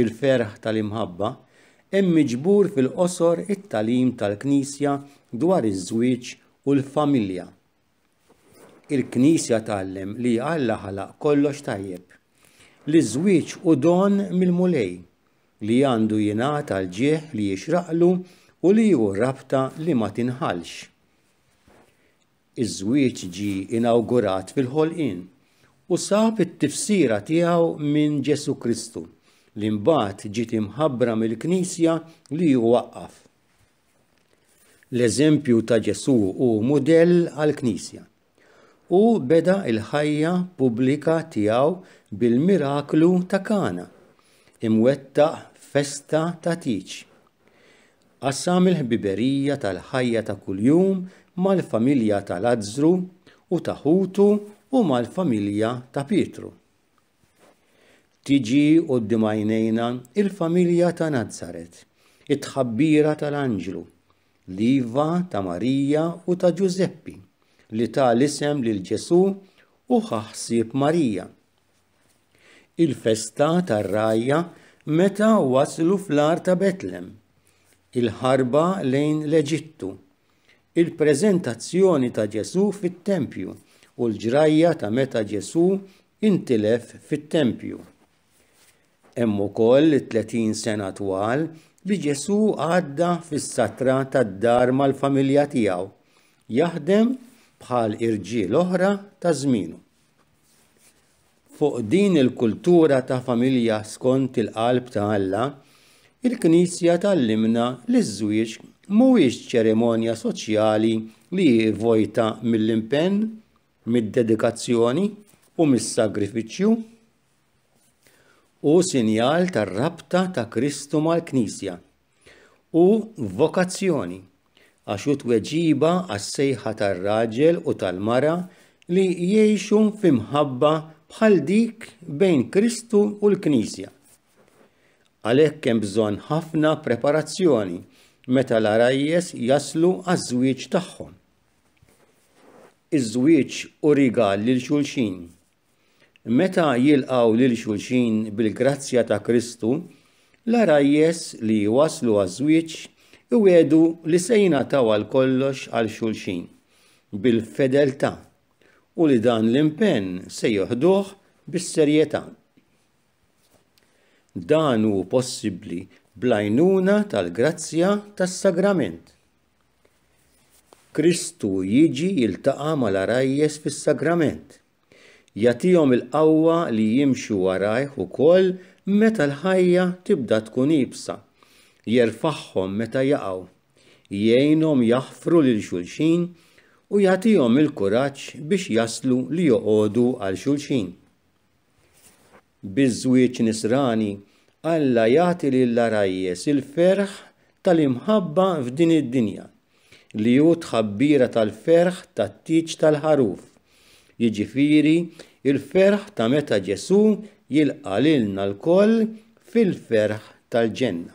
il-ferħ tal-imħabba, hemm miġbur fil-qosor it-tagħlim tal-Knisja dwar iż-żwieġ u l-familja. Il-Knisja tgħallem li Alla ħalaq kollox tajjeb, li ż-żwieġ hu don mill-Mulej, li għandu jingħata l-ġieħ li jixraqlu u li hu rabta li ma tinħallx. Iż-żwieġ ġie inawgurat fil-ħolqien u sab it-tifsira tiegħu minn Ġesù Kristu, li mbagħad ġiet imħabbra mill-Knisja li hu waqqaf. L-eżempju ta' Ġesù hu mudell għall-Knisja. Hu beda l-ħajja pubblika tiegħu bil-miraklu ta' Kana, imwettaq festa ta' tieġ. Qassam il-ħbiberija tal-ħajja ta' kuljum mal-familja ta' Lazzru u ta' ħutu u mal-familja ta' Pietru. Tiġi quddiem għajnejna il-familja ta' Nazaret, it-tħabbira tal-anġlu, l-iva ta' Marija u ta' Ġużeppi li ta l-isem lil Ġesù u ħaħsib Marija. Il-festa tar-rgħajja meta waslu fl-għar ta' Betlem. Il-ħarba lejn l-Eġittu. Il-preżentazzjoni ta' Ġesù fit-tempju u l-ġrajja ta' meta Ġesù intilef fit-tempju. Hemm ukoll it-30 sena twal li Ġesù għadda fis-satra tad-dar mal-familja tiegħu, jaħdem bħal irġiel oħra ta' żmienu. Fuq din il-kultura ta' familja skont il-qalb ta' Alla, il-Knisja tgħallimna li ż-żwieġ mhuwiex ċerimonja soċjali li hi vojta mill-impenn, mid-dedikazzjoni u mis-sagrifiċċju. Hu sinjal tar-rabta ta' Kristu mal-Knisja. Hu vokazzjoni għax hu tweġiba għas-sejħa tar-raġel u tal-mara li jgħixu fi mħabba bħal dik bejn Kristu u l-Knisja. Għalhekk hemm bżonn ħafna preparazzjoni meta l-għarajjes jaslu għaż-żwieġ tagħhom. Iż-żwieġ hu rigal lil xulxin. Meta jilqgħu lil xulxin bil-grazzja ta' Kristu, l-għarajjes li jwasslu għaż-żwieġ iwiegħdu li se jingħataw għal kollox għal xulxin bil-fedeltà u li dan l-impenn se jieħduh bis-serjetà. Dan hu possibbli bl-għajnuna tal-grazzja tas-sagrament. Kristu jiġi jiltaqa' mal-għarajjes fis-Sagrament. Jagħtihom il-qawwa li jimxu warajh ukoll meta l-ħajja tibda tkun iebsa. Jerfagħhom meta jaqgħu. Jgħinhom jaħfru lil xulxin u jagħtihom il-kuraġġ biex jaslu li joqogħdu għal xulxin. Biż-żwieġ nisrani, Alla jagħti lill-għarajjes il-ferħ tal-imħabba f'din id-dinja, li hu t-tħabbira tal-ferħ tat-tieġ tal-ħaruf, jiġifieri l-ferħ ta' meta Ġesù jilqa' lilna lkoll fil-ferħ tal-ġenna.